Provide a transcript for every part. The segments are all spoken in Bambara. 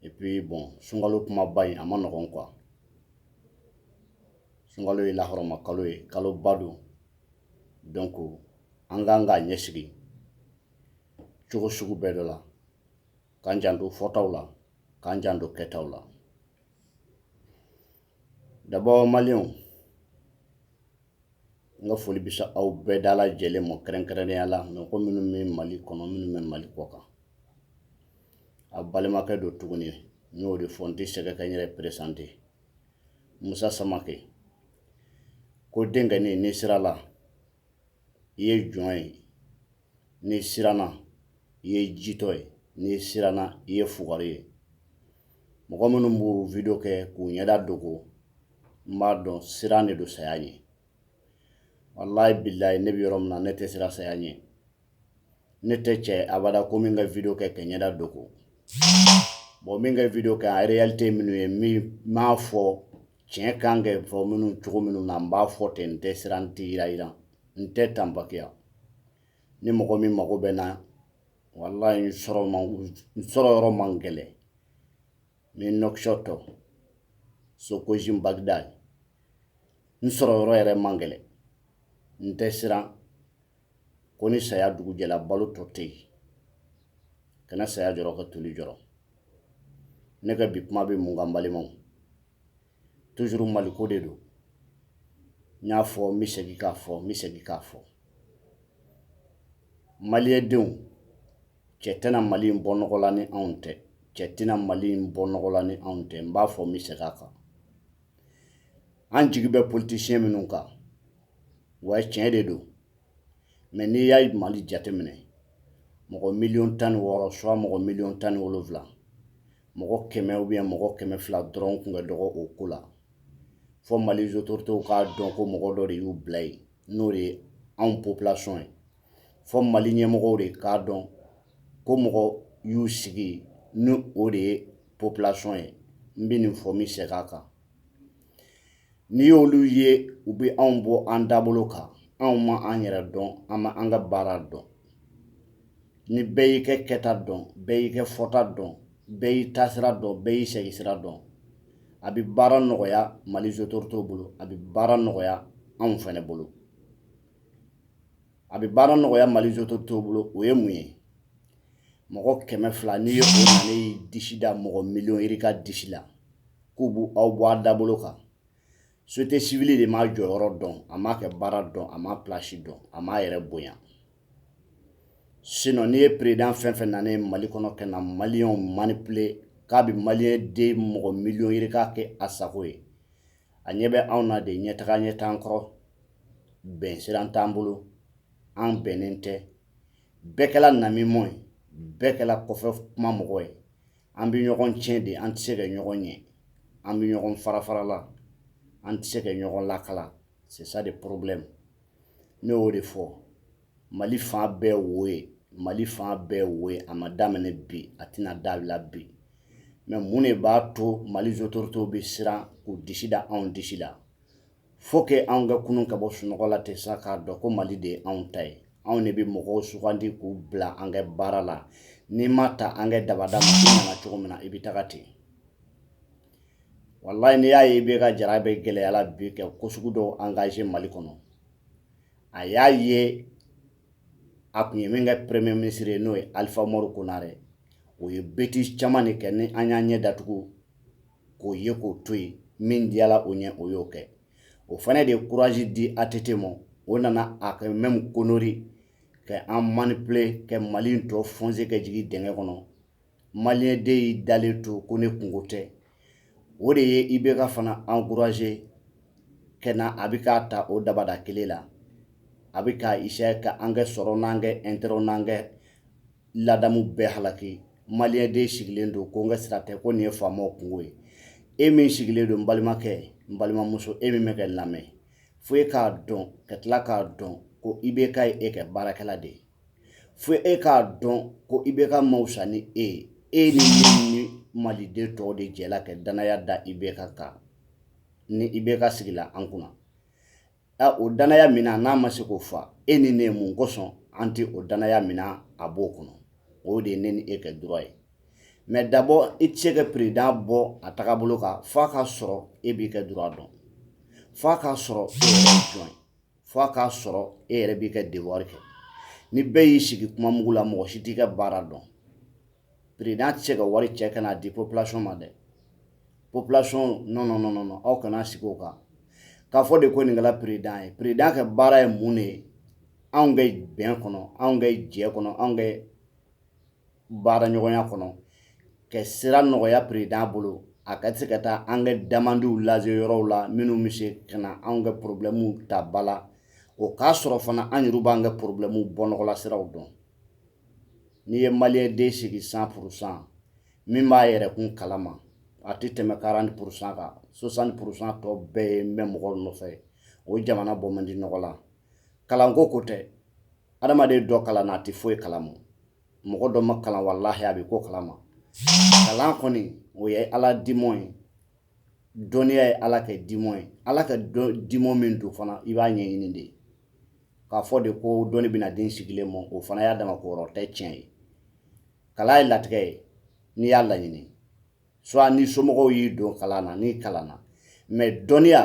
Et puis bon sunkalo kumaba in a man nɔgɔn quoi sunkalo ye lahɔrɔma kalo ye kalo ba don donc an kan k'a ɲɛsigi cogo sugu bɛɛ dɔ la k'an janto fɔtaw la k'an janto kɛtaw la D'abord maliyɛnw n ka foli bɛ se aw bɛɛ dalajɛlen ma kɛrɛnkɛrɛnya la mɔgɔ minnu bɛ mali kɔnɔ minnu bɛ mali kɔkan a balimakɛ don tuguni ye n y'o de fɔ n tɛ sɛgɛn ka n yɛrɛ peresante musa samakɛ ko denkɛnin n'i siranna i ye jɔn ye n'i siranna i ye jitɔ ye n'i siranna i ye fugari ye mɔgɔ minnu b'u video kɛ k'u ɲɛda dogo n b'a dɔn siran de don saya ɲɛ walayi bilayi ne bɛ yɔrɔ min na ne tɛ siran saya ɲɛ ne tɛ cɛ abada ko n bɛ n ka video kɛ ka n ɲɛda dogo bon n bɛ n ka video kɛ a réalité minnu ye n bɛn'a fɔ tiɲɛ kan ka fɔ minnu cogo minnu na n b'a fɔ ten n tɛ siran n tɛ yɛrɛyɛrɛ n tɛ tanbakiya ni mɔgɔ min mago bɛ n na walayi n sɔrɔ yɔrɔ man gɛlɛn n bɛ nouakchott socogim bagdad n sɔrɔ yɔrɔ yɛrɛ man gɛlɛn n tɛ siran ko ni saya dugu jɛla balo tɔ tɛ yen kana saya jɔrɔ ka toli jɔrɔ ne ka bi kuma bɛ mun kan balimaw toujours maliko de don n y'a fɔ n bɛ segin k'a fɔ n bɛ segin k'a fɔ maliyɛndenw cɛ tɛna mali in bɔ nɔgɔ la ni anw tɛ cɛ tɛna mali in bɔ nɔgɔ la ni anw tɛ n b'a fɔ n bɛ segin a kan an jigi bɛ politisiyɛn minnu kan wa tiɲɛ de don mais n'i y'a mali jateminɛ mɔgɔ miliyɔn tan ni wɔɔrɔ soit mɔgɔ miliyɔn tan ni wolonwula mɔgɔ kɛmɛ ou bien mɔgɔ kɛmɛ fila dɔrɔn kun ka dɔgɔ o ko la fɔ mali autorités k'a dɔn ko mɔgɔ dɔ de y'u bila yen n'o de ye anw population ye fɔ mali ɲɛmɔgɔw de k'a dɔn ko mɔgɔ y'u sigi ni o de ye population ye n bɛ nin fɔ n bɛ segin a kan n'i y'olu ye u bɛ anw bɔ an dabolo kan anw ma an yɛrɛ dɔn an ma an ka baara dɔn ni bɛɛ y'i ka kɛta dɔn bɛɛ y'i ka fɔta dɔn bɛɛ y'i taasira dɔn bɛɛ y'i seginsira dɔn a bɛ baara nɔgɔya mali autorités bolo a bɛ baara nɔgɔya anw fɛnɛ bolo a bɛ baara nɔgɔya mali autorités bolo o ye mun ye mɔgɔ kɛmɛ fila n'i ye o nana i disi da mɔgɔ miliyɔn yirika disi la k'u b'aw bɔ a dabolo kan société civile de m'a jɔyɔrɔ dɔn a m'a kɛ baara dɔn a m'a place dɔn a m'a yɛrɛ bonya sinon n'i ye président fɛn fɛn nana mali kɔnɔ kɛ na maliyɛnw manipuler k'a bɛ maliyɛnden mɔgɔ miliyɔn yirika kɛ a sago ye a ɲɛ bɛ anw na de ɲɛtaga ɲɛ t'an kɔrɔ bɛn siran t'an bolo an bɛnnen tɛ bɛɛ kɛla namimɔ ye bɛɛ kɛla kɔfɛ kuma mɔgɔ ye an bɛ ɲɔgɔn tiɲɛ de an tɛ se ka ɲɔgɔn ɲɛ an bɛ ɲɔgɔn farafara la an tɛ se ka ɲɔgɔn lakala c'est ça de problème ne y'o de fɔ Mali fan bɛɛ wo ye mali fan bɛɛ wo ye a ma daminɛ bi a tɛna dabila bi mais mun de b'a to mali autoritéw bɛ siran k'u disi da anw disi la faut que anw ka kunun ka bɔ sunɔgɔ la tɛ sa k'a dɔn ko mali de ye anw ta ye anw de bɛ mɔgɔw sugandi k'u bila an kɛ baara la n'i ma ta an kɛ dabada ma i nana cogo min na i bɛ taga ten walayi n'i y'a ye IBK jara bɛ gɛlɛya la bi kɛ ko sugu dɔw engager mali kɔnɔ a y'a ye a kun ye min kɛ premier ministre ye n'o ye Alifa Umaru Konare o ye bêtise caman de kɛ ni an y'an ɲɛ datugu k'o ye k'o to yen min diyala o ɲɛ o y'o kɛ o fana de ye courage di ATT ma o nana a kɛ même connerie kɛ an manipuler kɛ Mali in tɔ foncer kɛ jigin dingɛ kɔnɔ maliyɛnden y'i dalen to ko ne kungo tɛ o de ye IBK fana encourager kɛ na a bɛ k'a ta o dabada kelen la a bɛ ka essayer ka an kɛ sɔrɔ n'an kɛ intérêt n'an kɛ ladamu bɛɛ halaki maliyɛnden y'i sigilen to ko n ka sira tɛ ko nin ye faamaw kungo ye e min sigilen don n balimakɛ n balimamuso e min bɛ kɛ lamɛn fo e k'a dɔn ka tila k'a dɔn ko IBK ye e kɛ baarakɛla de ye fo e k'a dɔn ko IBK ma wusa ni e ye e ni ne ni maliden tɔw de jɛla ka danaya da IBK kan ni IBK sigila an kunna ɛ o danaya min n'a ma se k'o fa e ni ne mun kosɔn an tɛ o danaya mina a bolo kɔnɔ o de ye ne ni e kɛ droit ye mais d'abord i tɛ se ka président bɔ a tagabolo kan f'a k'a sɔrɔ e b'i kɛ droit dɔn f'a k'a sɔrɔ e yɛrɛ jɔn ye fo a k'a sɔrɔ e yɛrɛ b'i ka devoir kɛ ni bɛɛ y'i sigi kuma mugu la mɔgɔ si t'i ka baara dɔn président tɛ se ka wari cɛ ka n'a di population ma dɛ population non non non non aw kana sigi o kan k'a fɔ de ko nin kɛla président ye président ka baara ye mun de ye anw ka bɛn kɔnɔ anw ka jɛ kɔnɔ anw ka baara ɲɔgɔnya kɔnɔ ka sira nɔgɔya perezidan bolo a ka se ka taa an ka damandiw lase yɔrɔw la minnu bɛ se ka na anw ka porobilɛmu ta ba la o k'a sɔrɔ fana an yɛrɛ b'an ka porobilɛmu bɔnɔgɔla siraw dɔn n'i ye maliyɛnden sigi san purusan min b'a yɛrɛ kun kalama a tɛ tɛmɛ karanti purusan kan swasanti purusan tɔ bɛɛ ye n bɛ mɔgɔ nɔfɛ o jamana bɔ man di nɔgɔ la kalanko ko tɛ adamaden dɔ kalanna a tɛ foyi kalama mɔgɔ dɔ ma kalan walahi a bɛ ko kalama kalan kɔni o ye ala dimɔ ye dɔnniya ye ala ka dimɔ ye ala ka dimɔ min don fana i b'a ɲɛɲini de k'a fɔ de ko dɔnni bɛna d'i sigilen ma o fana y'a dama ko yɔrɔ tɛ tiɲɛ ye kalan ye latigɛ ye n'i y'a laɲini soit ni somɔgɔw y'i don kalan na n'i kalanna mɛ dɔnniya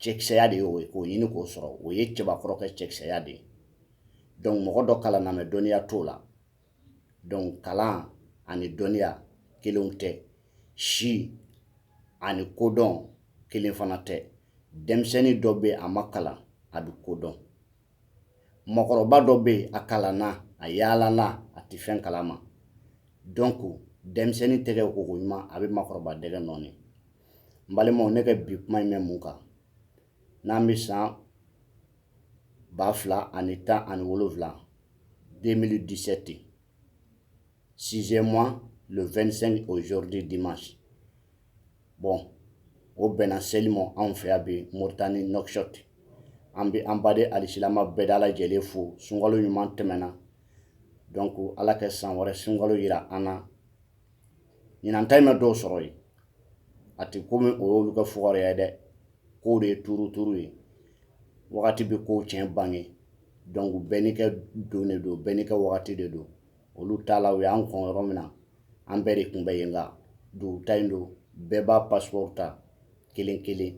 cɛkisɛya de ye o ye k'o ɲini k'o sɔrɔ o ye cɛbakɔrɔ ka cɛkisɛya de ye dɔnku mɔgɔ dɔ kalanna mɛ dɔnniya t'o la dɔnku kalan ani dɔnniya kelenw tɛ si ani kodɔn kelen fana tɛ denmisɛnnin dɔ bɛ a ma kalan a bɛ kodɔn mɔgɔkɔrɔba dɔ bɛ a kalanna a yaalala a tɛ fɛn kalama donc denmisɛnnin tɛgɛ koko ɲuman a bɛ makɔrɔba dɛgɛ nɔɔni n balimaw ne ka bi kuma in bɛ mun kan n'an bɛ san ba fila ani tan ani wolonwula 2017 sixième mois le 25 aujourd'hui dimanche bon o bɛnna seli ma anw fɛ yan bi moritani nouakchott an bɛ an baden alisilama bɛɛ da lajɛlen fo sunkalo ɲuman tɛmɛna donc ala ka san wɛrɛ sunkalo yira an na ɲinan ta in ma dɔw sɔrɔ yen a tɛ komi o y'olu ka fugariya ye dɛ kow de ye turuturu ye wagati bɛ kow tiɲɛ bange donc bɛɛ n'i ka don de don bɛɛ n'i ka wagati de don olu taala u y'an kɔn yɔrɔ min na an bɛɛ de kun bɛ yen nka dugu ta in don bɛɛ b'a passeport ta kelen kelen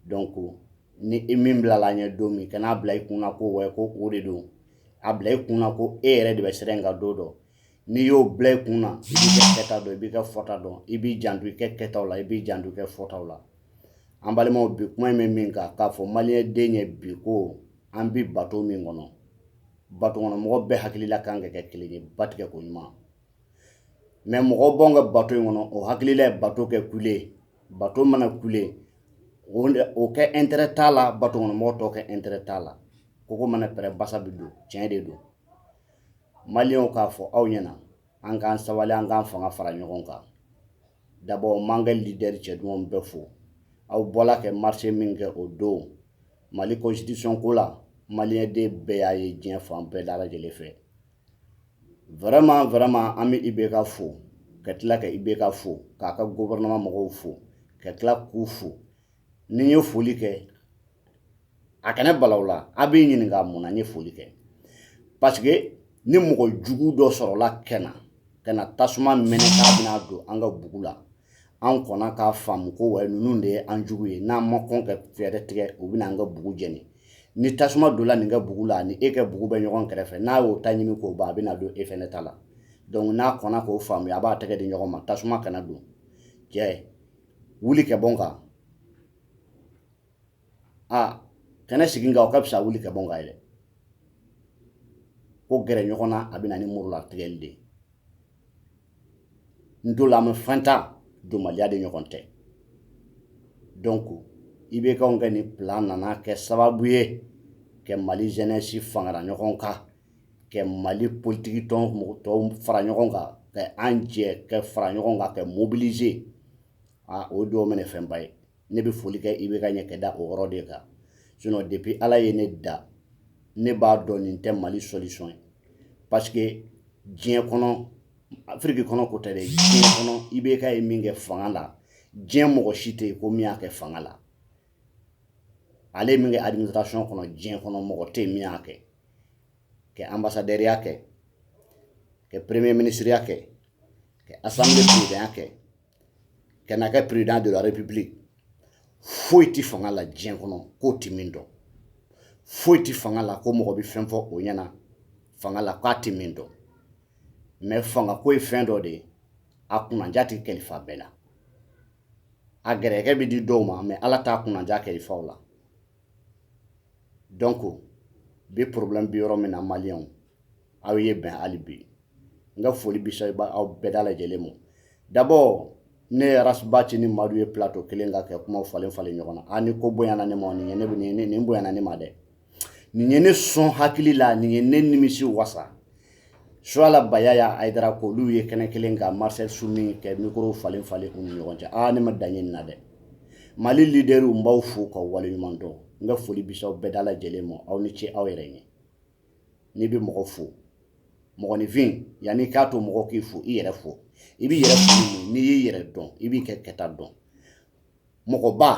donc ni i min bilala an ɲɛ don min kan'a bila i kun ko wa ko o de don a bila i kun na ko e yɛrɛ de bɛ sira in kan don dɔ n'i y'o bila i kun na i b'i ka kɛta dɔn i b'i ka fɔta dɔn i b'i janto i ka kɛtaw la i b'i janto i ka fɔtaw la an balimaw bi kuma in bɛ min kan k'a fɔ maliden ye bi ko an bɛ bato min kɔnɔ batokɔnɔmɔgɔ bɛɛ hakilila kan ka kɛ kelen ye ba tigɛ ko ɲuman mɛ mɔgɔ b'anw ka bato in kɔnɔ o hakilila ye bato ka kule bato mana kule o ka intérêt t'a la batokɔnɔmɔgɔ tɔw ka intérêt t'a la koko mana pɛrɛn basa bɛ don tiɲɛ de don maliyɛnw k'a fɔ aw ɲɛna an k'an sabali an k'an fanga fara ɲɔgɔn kan d'abord n b'an ka lidɛri cɛ duman bɛɛ fo aw bɔla ka marisi min kɛ o don mali constitution ko la maliyɛn den bɛɛ y'a ye diɲɛ fan bɛɛ da lajɛlen fɛ vraiment vraiment an bɛ ibk fo ka tila ka ibk fo k'a ka gouvernement mɔgɔw fo ka tila k'u fo ni n ye foli kɛ a kana bala aw la a bɛ ɲininka mun na n ye foli kɛ parce que ni mɔgɔ jugu dɔ sɔrɔla kɛnɛ ka na tasuma mɛnɛ k'a bɛna don an ka bugu la an kɔnna k'a faamu ko wa ninnu de ye an jugu ye n'an ma kɔn ka fɛɛrɛ tigɛ u bɛna an ka bugu jeni ni tasuma donna nin ka bugu la ni e ka bugu bɛ ɲɔgɔn kɛrɛfɛ n'a y'o ta ɲimi k'o ban a bɛna don e fɛnɛ ta la donc n'a kɔnna k'o faamu a b'a tɛgɛ di ɲɔgɔn ma tasuma kana don cɛ wuli ka bɔ n kan a kana sigi n kan o ka fisa wuli ka bɔ n kan yɛrɛ ko gɛrɛ ɲɔgɔn na a bɛna ni muru la tigɛli de ye n dola me fantan donbaliya de ɲɔgɔn tɛ donc ibk ka nin plan nana kɛ sababu ye ka mali jeunesse fara ɲɔgɔn kan ka mali politiki tɔnw fara ɲɔgɔn kan ka an jɛ ka fara ɲɔgɔn kan ka mobiliser a o don minɛ fɛnba ye ne bɛ foli kɛ ibk ye ka da o yɔrɔ de kan sinon depuis ala ye ne da ne b'a dɔn nin tɛ mali solution ye parce que diɲɛ kɔnɔ afiriki kɔnɔ ko tɛ dɛ diɲɛ kɔnɔ ibk ye min kɛ fanga la diɲɛ mɔgɔ si tɛ yen ko min y'a kɛ fanga la ale ye min kɛ administration kɔnɔ diɲɛ kɔnɔ mɔgɔ tɛ yen min y'a kɛ ka ambassadeur ya kɛ ka premier ministre ya kɛ ka assemblée président ya kɛ ka na kɛ président de la république foyi tɛ fanga la diɲɛ kɔnɔ k'o tɛ min dɔn foyi tɛ fanga la ko mɔgɔ bɛ fɛn fɔ o ɲɛna fanga la k'a tɛ min dɔn mais fanga ko ye fɛn dɔ de ye a kunnaja tɛ kalifa bɛɛ la a gɛrɛkɛ bɛ di dɔw ma mais ala t'a kunnaja kalifa u la donc bi problème bi yɔrɔ min na maliyɛnw aw ye bɛn hali bi n ka foli bi se aw bɛɛ da lajɛlen ma d'abord ne ye ras bath ni madu ye plateau kelen kan ka kuma falen falen ɲɔgɔn na ni ko bonyana ne ma nin ne nin nin bonyana ne ma dɛ nin ye ne sɔn hakili la nin ye ne nimisi wasa suala bayaya haidara ko olu ye kɛnɛ kelen kan master soumy ka micro falen falen u ni ɲɔgɔn cɛ aa ne ma dan ye nin na dɛ mali leaderw n b'aw fo k'aw waleɲuman dɔn n ka foli bi se aw bɛɛ da lajɛlen ma aw ni ce aw yɛrɛ ye n'i bɛ mɔgɔ fo mɔgɔninfin yanni i k'a to mɔgɔ k'i fo i yɛrɛ fo i b'i yɛrɛ n'i y'i yɛrɛ dɔn i b'i ka kɛta dɔn mɔgɔba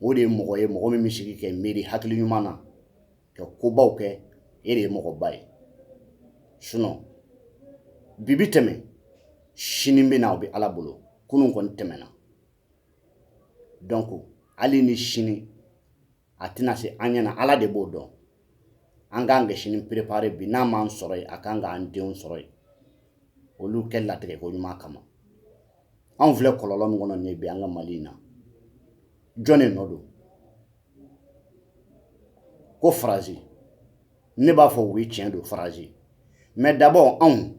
o de ye mɔgɔ ye mɔgɔ min bɛ sigi ka miiri hakili ɲuman na ka kobaw kɛ e de ye mɔgɔba ye sinon bi bi tɛmɛ sini bɛ na o bɛ ala bolo kunun kɔni tɛmɛna donc hali ni sini a tɛna se an ɲɛna ala de b'o dɔn an k'an kɛ sini préparer bi n'a m'an sɔrɔ yen a kan k'an denw sɔrɔ yen olu kɛ latigɛ ko ɲuman kama anw filɛ kɔlɔlɔ min kɔnɔ nin ye bi an ka mali in na jɔn de nɔ don ko faransi ne b'a fɔ u ye tiɲɛ don faransi mais d'abord anw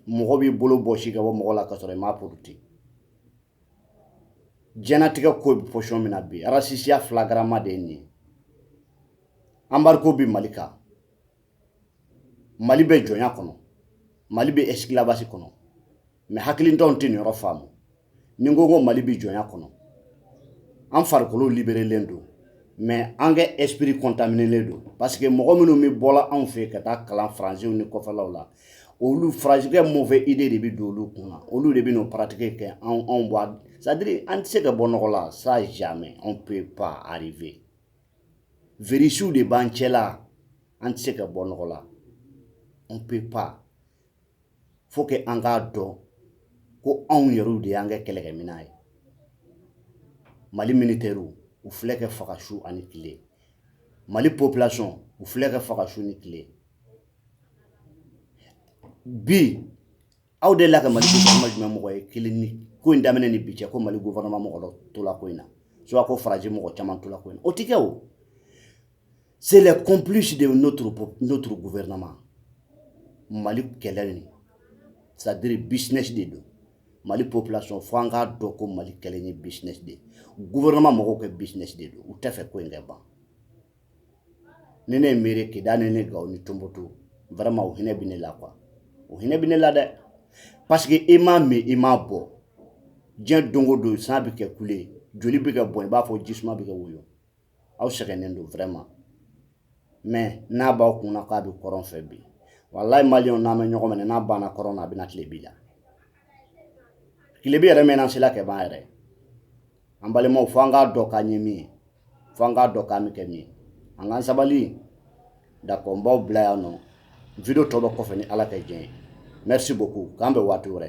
mɔgɔ b'i bolo bɔsi ka bɔ mɔgɔ la ka sɔrɔ i m'a porote jɛnatigɛ ko bɛ position min na bi arasisiya flagrant de ye nin ye embargo bɛ mali kan mali bɛ jɔnya kɔnɔ mali bɛ esclavage kɔnɔ mais hakilintanw tɛ nin yɔrɔ faamu ni n ko ko mali bɛ jɔnya kɔnɔ an farikolo libérélen don mais an ka esprit contaminélen don parce que mɔgɔ minnu bɛ bɔla anw fɛ ka taa kalan faransiw ni kɔfɛlaw la olu farajɛ kɛ mauvaise idée de bɛ don olu kun na olu de bɛ n'o pratiquer kɛ anw anw b'a c'est-à-dire an tɛ se ka bɔ nɔgɔ la ça jamais on peut pas arriver virisiw de b'an cɛla an tɛ se ka bɔ nɔgɔ la on peut pas faut que an k'a dɔn ko anw yɛrɛw de y'an kɛ kɛlɛkɛminɛn ye mali militɛriw u filɛ kɛ faga su ani tile mali population u filɛ kɛ faga su ni tile bi aw dela ka mali gouvernement jumɛn mɔgɔ ye kɛlɛ nin ko in daminɛ ni bi cɛ ko mali gouvernement mɔgɔ tola ko in na soit ko faransi mɔgɔ caman tola ko in na o tɛ kɛ o c'est les complices de notre gouvernement mali kɛlɛ nin c'est-à-dire business de don mali population fo an k'a dɔn ko mali kɛlɛ ye business de ye gouvernement mɔgɔw kɛ business de don u tɛ fɛ ko in kɛ ban ni ne ye miiri kidal ni ne gawo ni tonbotu vraiment o hinɛ bɛ ne la quoi o hinɛ bɛ ne la dɛ parce que i m'a min i m'a bɔ diɲɛ don o don san bɛ kɛ kule joli bɛ kɛ bɔn i b'a fɔ jisuma bɛ kɛ woyo aw sɛgɛnnen don vraiment mais n'a b'aw kun na k'a bɛ kɔrɔn fɛ bi walayi maliyɛnw n'an bɛ ɲɔgɔn minɛ n'a banna kɔrɔn na a bɛna tilebin la tilebin yɛrɛ mɛnna sela kɛ ban yɛrɛ an balimaw fo an k'a dɔn k'an ye min ye fo an k'a dɔn k'an bɛ kɛ min ye an k'an sabali d'accord n b'aw bila yan nɔ video tɔ bɛ kɔfɛ ni Ala ka jɛn ye merci beaucoup k'an bɛn waati wɛrɛ